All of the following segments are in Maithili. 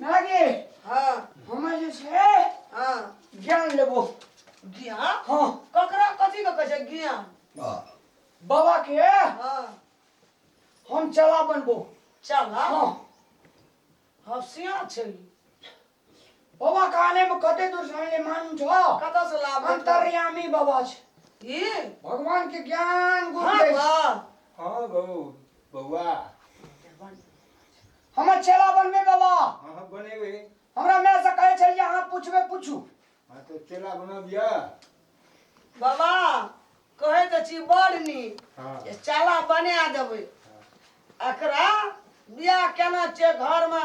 नागे हाँ हम जे छै हाँ ज्ञान लेबो ज्ञान हाँ ककरा कथी के कहै छै ज्ञान बाबा के हाँ हम चला बनबो चला हाँ हसिया छै बाबा काने में कते दूर सामने मान छो कता से लाभ अंतर्यामी बाबा छ ई भगवान के ज्ञान गुरु हां बा हां बहु बउआ हम चला बन में बाबा हां हां बनेबे हमरा मैं से कहे छलिए अहाँ पूछबे पूछू हां तो चला बना दिया बाबा कहे त छी बड़ नी हां चला बना देबे एकरा बियाह केना छै घर में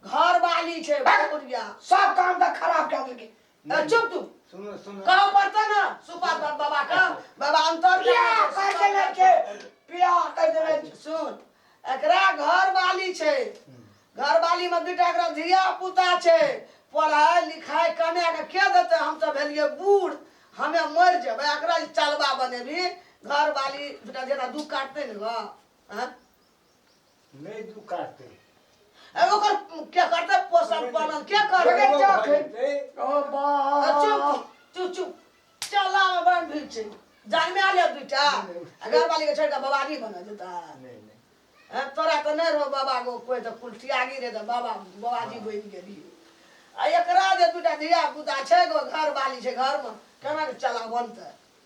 घर वाली छै बक। बुढ़िया सब काम तऽ खराब कए देलकै ए, चुप तू सुनो सुनो कहऽ पड़तै ने सुपा बा- बाबा के बाबा अंतर बियाह कर देने छै बियाह कर देने छै सुन एकरा घर वाली छै घर वाली में दूटा एकरा धिया पुता छै पढ़ाई लिखाई कने के के देते हम सब भेलिए बूढ़ हमे मर जेबै एकरा जे चलबा बनेबी घर वाली दूटा जेना दू काटते ने गा हैं? नहीं तू काटते अब ओकर क्या करते पोषण पालन क्या कर बगैर जा के ओ बा चुप चुप चुप चला में बन भी छै जान में आ ले बेटा अगर वाली के छोड़ के बवाली बना देता नहीं नहीं हैं, तोरा तो नहीं रहो बाबा को कोई तो कुलटिया गिर रहे तो बाबा बाबाजी बन गेली आ एकरा जे दूटा धिया पुता छै गो घर वाली छै घर में केना के चला बनते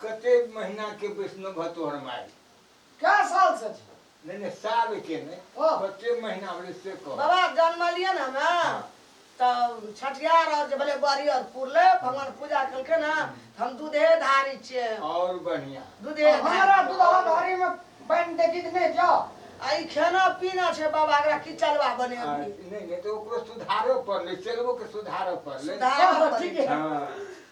कते महीना के वैष्णव भा तोहर माय कै साल से छी नहीं नहीं साल के नहीं ओ। कते महीना होले से कह बाबा जनमलिए ने हमे तऽ छठियार और जे भेलै ग्वालियर पुरले भगवान पूजा केलकै ने तऽ हम दूधे धारी छियै और बढ़िया दूधे अब हमरा धारी दुल्हा धारी में बन देखी तो नहीं जाओ आ ई खाना पीना छै बाबा एकरा की चलवा आ, बने नहीं नहीं तो ओकरो सुधारो पड़ले चलबो के सुधारो पड़ले सुधार- हाँ, ठीक है हाँ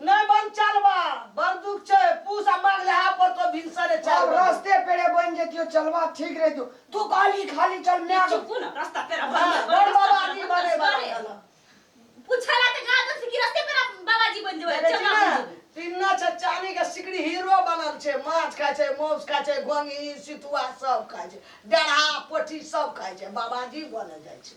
नै बन चलबा बड़ दुख छै पूस आ माघ लहा पर तो भिनसरे चार आब बजे। रस्ते पेड़े बनि जैतियो चलबा ठीक रहितो। तू कहलही खाली चल माय गे। चुप ने रस्ता पेड़ा बनि हँ, बड़ बाबा आदमी बने बला बने। रहल। पुछला तऽ कहा दन से कि रस्ते पेड़ा बाबाजी बनि जेबै देखै छी चलबा ने बनि जेबै। पिन्ना छै चानी के सिकड़ी हीरो बनल छै माछ खाइ छै मौस खाइ छै घोंघी सितुआ सब खाइ छै डेढ़ा पोठी सब खाइ छै बाबाजी बने जाइ छै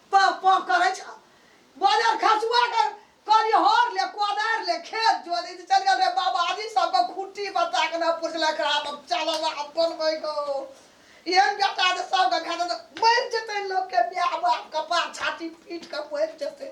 पह पह करै छ बाजार खसुआ के कहलिए हर ले कोदार ले खेत जो दे चल गेल रे बाबाजी सबके खुट्टी बता के ना पुछला खरा अब चल अब बनबै गो एहन बेटा जे सबके भेट मरि जेतै लोकके माय बाप कपार छाती पीट के मरि जेतै